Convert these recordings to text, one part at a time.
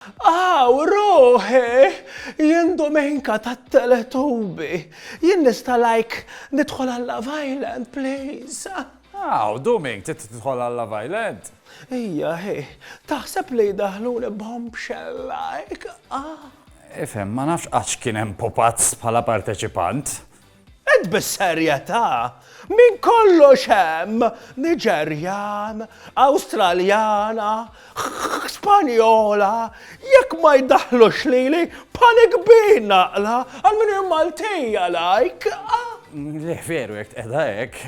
Aw, ruħi! Jien Domenica tat-Teletubi. Jien nista' like nidħol għal Love Island, please? Aw, Duming, trid tidħol għal Love Island? Ija, hi. Taħseb li jdaħħluni bombshell like? Ifhem, ma nafx għax kien hemm pupazz bħala parteċipant. Int bis-serjetà? Minn kollox hemm Niġerjan, Awstraljana, Spanjola, jekk ma jdaħħlux lili bħali kbir naqla għal min hu Maltija like. Le veru jekk tqegħdha hekk.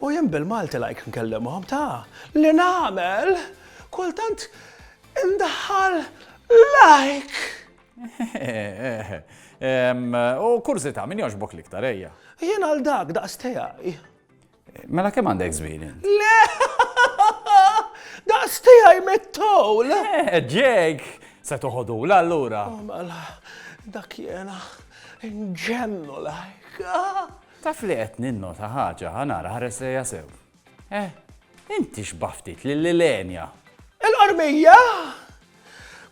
U jien bil-Malti like nkellimhom ta' li nagħmel kultant indaħħal like. U kurzita, min jogħġbok l-iktar, ejja. Jien għal dak, daqs tiegħi. Mela kemm għandek żmien? Le! Daqs tiegħi mit-towl! Ġejk, se toħodu l allura. Oh, mela, dak jena, nġemmu lajk. Taf li qed ninno ta' ħaġa, ħanara ħares lejja sew. Eh, inti xbah ftit lil Ilenia. Il-qormija!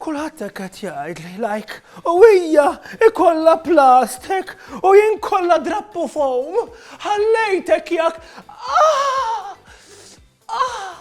Kulħadd hekk qed jgħid li lajk u hija ikollha plastik u jien kollha drappu foam. Ħallejtek jak. Ah! Ah!